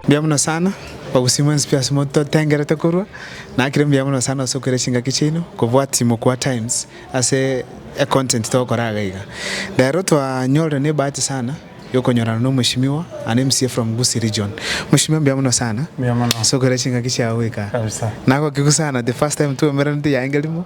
Mbuya mono sana, obosio mwensi pi ase mototengerete korwa, nakire mbuya mono sana ase okoira chingaki chiaino, kobwat chimokwa times ase e content togokora iga iga. Rero twanyorire ne ebahati sana ya okonyorana na omweshimiwa and MCA from Gusii region. Mweshimiwa mbuya mono sana Mbuya mono. ase okoira chingaki chiao goika iga. Kabisa. Nagokigu sana the first time twaumeranete yaengerimo.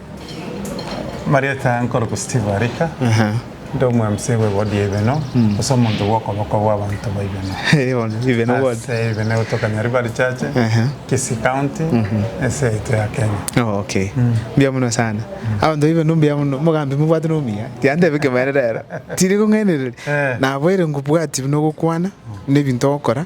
Marieta nkorokwa Steve Arika, nde omwemsi bwe wodi ya Ibeno, gose omonto bw'okoboko bw'abanto ba Ibeno. Eh, bono, Ibeno ward. Ase Ibeno egotokania River Church, Aha. Kisii County, ense yaito ya Kenya. Oh, okay. Mbuya mono sana. Abanto ba Ibeno mbuya mono. Mogambi mobwate nomuya. Tiyandebe ekemanera ero. Tiri kong'ainereria. Eh. Naboire ngobwati buna ogokwana, na ebinto ogokora,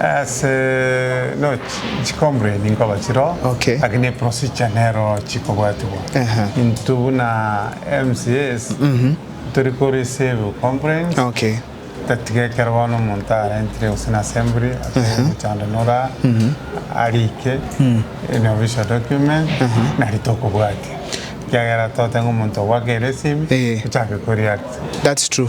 Ase no chi complain nkoba chiro Okay. lakini eprosija nero chikobwatigwa Aha. intwe buna mcs tori ko receive complaints Okay. tatiga ekero bono omonto arentire gose na assembly ase omochando nora arike in official document nari tokobwatia ekiagera tote ng'a omonto ogwaka eresimi Eh. ochake koreact That's true.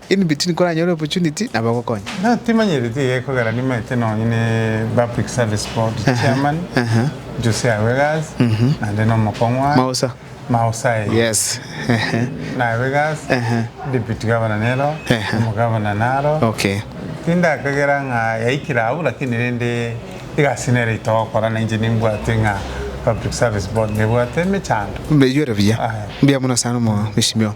Inbiti nikoranyore opportunity nabo ogokonya. Nonye timanyereti iga ekogera nimaete nonye ne public service board chairman Jose Awegas naende na omokong'wa Mausa Mausa eye Yes ehe na Awegas ehe deputy governor nero Ehe. omogavana naro Okay tindakagera ng'a yaikire abwo lakini rende egasi nere itogokora na inche nimbwate ng'a public service board nebwate emechando. Mbeiyore buya. Aya. Mbuya mono sana omo mheshimiwa.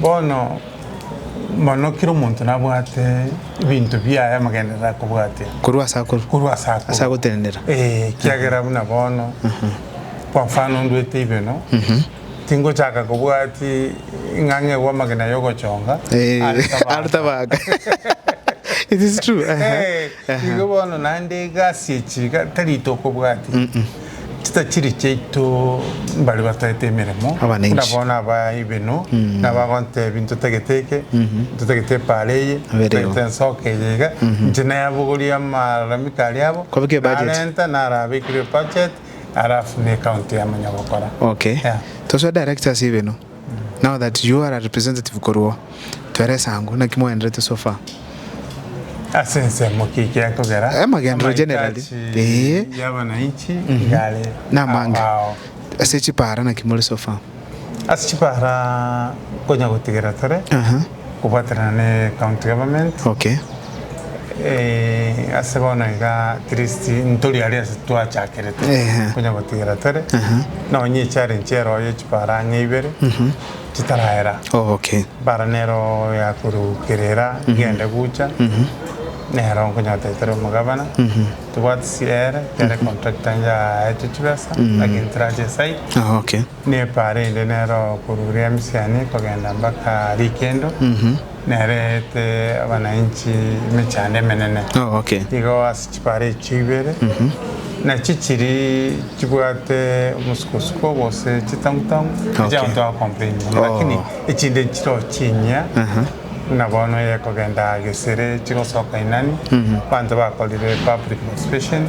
Bono mono kera omonto nabwate ebinto biaye amagenderero akobwatia. Korwa ase akorwa. Korwa ase akorwa. Ase agotenenera. Ee, ekiagera buna bono, kwa mfano ndwete ibeno, tingochaka kobwati ng'a ng'egwe amagena y'ogochonga are tabaka. Are tabaka. It is true. Igo bono naende egasi echi tari tokobwatia. Chitachiri chiaito mbare bataete emeremo, Abanenchi. buna bono aba aibeno nabagontebia ntotagete eke, ntotagete epaara eye, Abereo. ntotagete ensoko eye iga, inche nayabogorie amalalamiko aria abo, Kwabekire ebudget. narenta narabekire ebudget, arafune ekaunti yamanya gokora. Okay. Yeah. Tosoe directors aibeno. Now that you are a representative korwa oo, twerese ango naki mwagenderete so far. Ase ensemo ki ekiaye kogera amagenderero generally ee yabananchi igare mhm. namange ase chipara naki more sofa ase chipara konya gotigera tore Kobwaterana ne county government. Okay. Eh, ase bono iga at least ntori aria ase twachakerete. Ehe. Konya gotigera tore. Aha. Nonye echallenge ero oye chipara ang'e ibere. Chitaraera. Oh, okay. Bara nero yakorwa kerera gende gucha. Nero nkonyote tore omogabana. Tobwati siere, kere contractor njaete chibesa. Lakini tirache site. Oh, okay. Neparide nero korwa Riamisiani kogenda mpaka Rikendo, nereete abanainchi emechando emenene. Igo ase chipara echio ibere, nachio chiri chibwate omosukosuko gose chitang'utang'u, echi abanto bakompeinyora, lakini echinde nchiroo chinyia, buna bono eye ekogenda gesere chigosoka Inani, abanto bakorire public participation.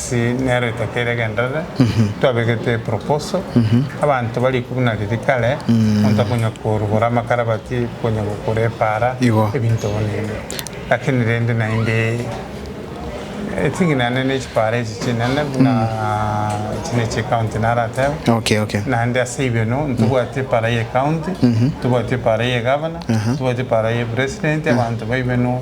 Ase nero etata ere egenderere, twabegete proposal, abanto barikwe buna riria kare, monto akonya korugora amakarabati, konya gokora epaara, Igo. ebinto bono ebi. Lakini rende naende ting'inane ne chipaara echi chinene buna echi ne chie county naratebe. Okay, okay. Naende ase ibeno ntobwati epaara ye county, ntobwati epaara ye governor, ntobwati epaara ye president, abanto baibeno.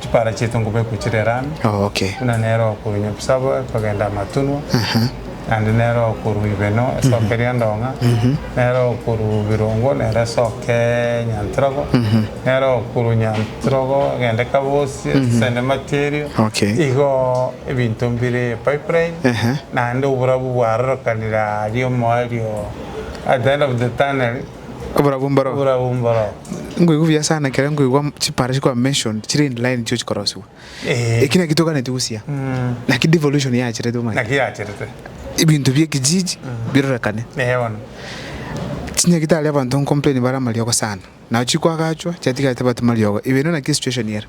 chipara chiaito nkobekwe chire rami, buna nere okorunya obisabo ekogenda amatunwa, naende nere okorua ibeno esoka eria endong'a, nere okorua birongo nere esoka enyantirogo, nere okorua nyantirogo egende kabosie esende mati erio, igo ebinto mbire pipeline, naende oborabu bwarorokanire aria omoerio at the end of the tunnel. Oborabu mboroo. Oborabu mboroo. Nkoigwa buya sana ekero nkoigwa chipara chikwa mentioned chire in line nichio chikorosiwa. Eh. Eki naki toganeti gosia. Mm. Naki devolution yacherete omanyete. Naki yacherete. Ebinto bie kijiji mm. birorekane. Eh bono. Chinya gitari abanto nkomplain bare amariogo sana. Nao chikwa agachwa chiatigarete batu mariogo. Ebere naki situation ere.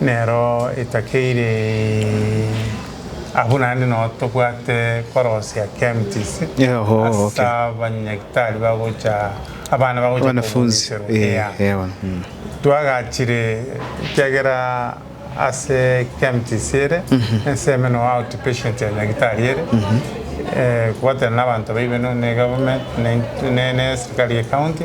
Nero etakeire abwo naende nao tobwate korosia Kemptis ase abanyagitari bagocha abana bagocha koguneserwa ea. Twagachire ekiagera ase Kemptis ere ense ime no outpatient ya nyagitari ere kobwatana nabanto baibe no ne government ne ne ne eserikari ye county.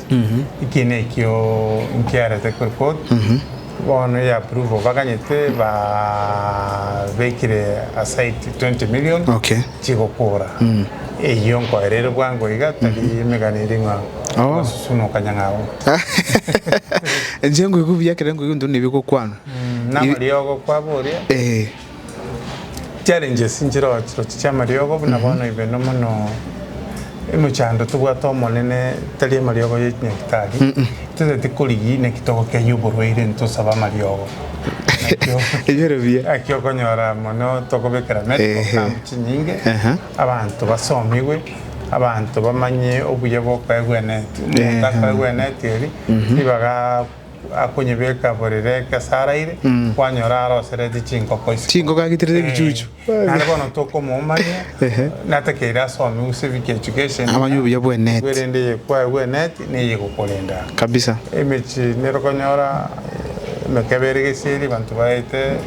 Eki nekio nkiarete kore kod bono ya approval baganyete babekire aside 20 million chigokora eyio nkoereire bwango iga tari emegani eri ng'a kobasusunoka nyang'au. Inche ngoigwe buya ekero nkoigwe intwe nebigokwanwa. Namariogo kwabo oria. Challenges nchirochiroche chiamariogo buna bono ibeno mono emochando tobwate omonene tari amariogo ye chinyagitari totagete korigia naki togokenya oborwaire ntosabe amariogo nakio Ebiro biya. naki okonyora mono tokobekera medical Ehe. camp chinyinge Aha. abanto basomigwe abanto bamanye obuya bokoegwa eneti omonto Ehe. akoegwa eneti eri tibaga akonyebeka borere ekesa araire, kwanyora arosereti chinkoko isiko. Chinkoko agiterete ebichuchu. Eh, naende bono tokomomanya, Ehe. natakeire asome gose ebi education. Amanye obuya bw'enet. Nigo erende eye kwaye bw'enet, neye egokorenda. Kabisa. Emechie nero okonyora eh, emekebe ere gesieri, abanto baete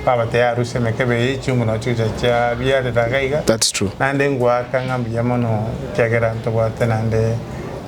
babatebia arusie emekebe eye, echiungu nao chigocha chiabiarera iga iga. That's true. Naende ngoaka ng'a mbuya mono ekiagera ntobwate naende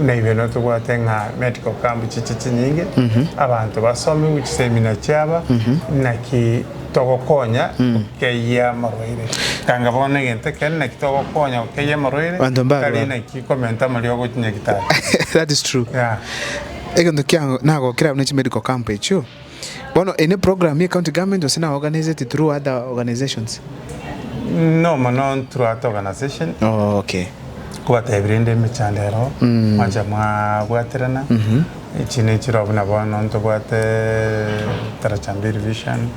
Naibe notobwate ng'a medical camp chiche chinyinge abanto basome gochi seminar chiaba naki togokonya gokeyia amarwaire tanga bono egento ekere naki togokonya gokeyia amarwaire Abanto mbarwa. tari naki komenta morio gochi nyagetari That is true. Yeah. Egento kiago nagokera buna chi medical camp echio. Bono eye ne program ye county government gose na organized through other organizations? No mono through other organization. Oh, okay. Kobatebia rende emechando ero mwancha mwabwaterana echi nechiroo buna bono ntobwate Tarachambili vision.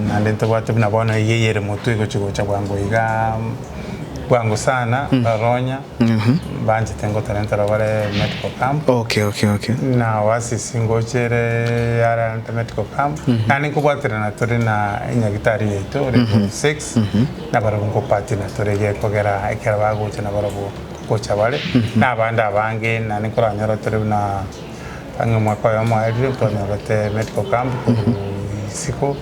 Naende ntobwate buna bono eyio eyere motwe egochia gocha bwango iga bwango sana baronya banchete ngotarenta aro bare medical camp Okay okay okay. na oasis ngochere yara nte medical camp naende nkobwaterana tore na enyagitari yaito ore form six na barabwo nkopatina tore gekogera ekero bagocha na barabwo gocha bare na abande abange naende nkoranyora tore buna Ang'e omwaka oyomo aerire ntwanyorete medical camp korwa isiko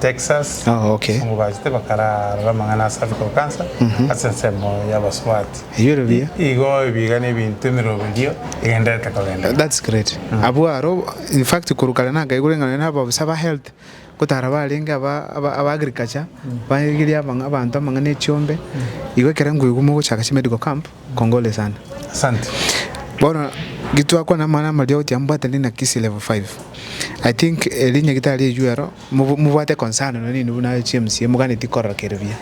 Texas abasongo bachete bakararora amang'ana a cervical cancer ase ensemo y'abasubati. Igo ebiga na ebinto emerogo erio egenderete kogenda. That's great. Abwo aro, in fact korwa kare nakaigure ng'a nonya nababisa ba health. Gotaara barenge aba aba agriculture barigirie abang'a abanto amang'ana echiombe igo ekero nkoigwa mogochaka chi medical camp kongore sana Asante. Bono gitwakwana amang'ana amaria oti ambwate ndi na kisii level five I think erinya gitari erigwe ero mobo mobwate concern nonye nainwe buna chief mca moganeti korora kere buya.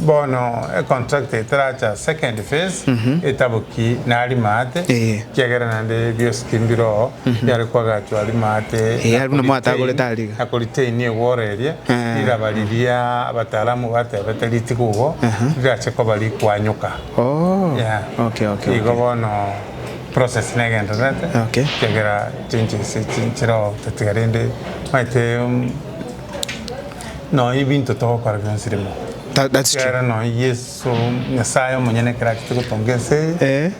Bono econtract etaracha second phase etaboki nari maate ekiagera naende biosi timbiro biare koagachwa ari maate na koritaini egworo eria riraba riria abatalamu batebete ritiga obo rirache koba rikwanyoka. Igo bono process negendererete ekiagera changes echi nchireo tatiga rende maete. nonya ebinto togokora bionsi rimo Tha- that's true. ekiagera nonya yeso nyasaye omonyene ekero achete gotonga ense eye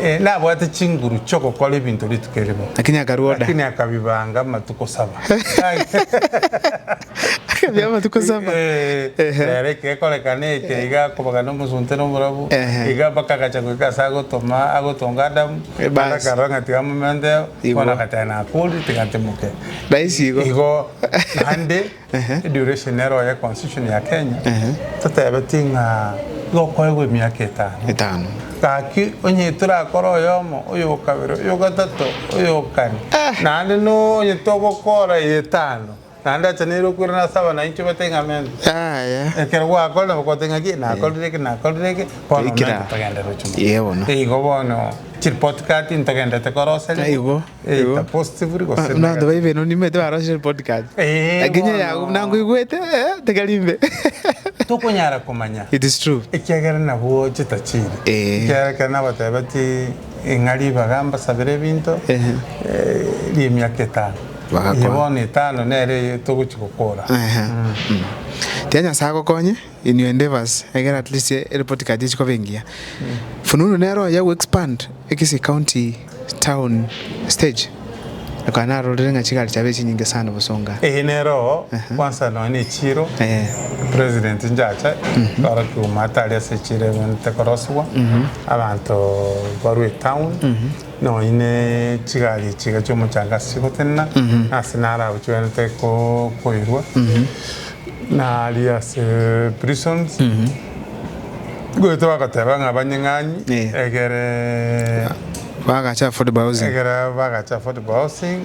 Eh, eh, nabwate chinguru chiogokora ebinto rituko erimo lakini akarua oda. lakini akabibanga amatuko saba Akabia amatuko saba. Eh, Ehe. rero ekekorekana eke iga akobagana omosunte na omorabu Ehe. iga mpaka agacha goika ase agotoma agotonga adamu Eh, bas. akarora ng'a tiga momenteo Igwa. bono agateba nakori tiga ntimoke Rahisi igo. igo Naende eduration ero ye constitution ya Kenya totebetie ng'a iga okoegwa emiaka etano. Etano. Gaki onye torakore oyomo, oyokabere, oyogatato, oyokane, naende nonye togokora etano, naende acha nere okoirana ase abana bainche batebie ng'a mento. Yaya. Ekero gwakore nabo kotebie ng'a ki nakorire eke nakorire eke bono Toikire mento agwo. togenderere chinguru. Yee bono. Igo bono chiripoti card ntogenderete koroseria. Igo. Eita positively gose Abanto negative. baibe no nimete barosire podcast. Eh, Lakini bono. yago nango igwete eh, tikari mbe. Tokonyara komanya. It is true. Ekiagera nabwo chitachiri. Eh. Ekiagera ekero nabatebetie ng'a ribaga mbasabere ebinto Ehe. eh, ri'emiaka etano. Bagakora. Eye bono etano nere eye togochi gokora. Ehe. Tiga Nyasae agokonye. Inwe endeavors egera at least erepoti card echikoba engiya. Fununu nero oyo ago expand ekisii county town stage ekaba narorire ng'a chigari chiabaire chinyinge sana obosonga. Eye nero kwansa nonya ne chiro president njacha kora kiuma tari ase chiro egonete korosigwa abanto barue etown. Noine chigari echiga chi'omochando ase gotenena, na ase naro abwo chiwenerete kokoirwa, nari ase prisons, goeta bagoteba ng'a banyeng'anyi, egere Bagache affordable housing. egere bagache affordable housing.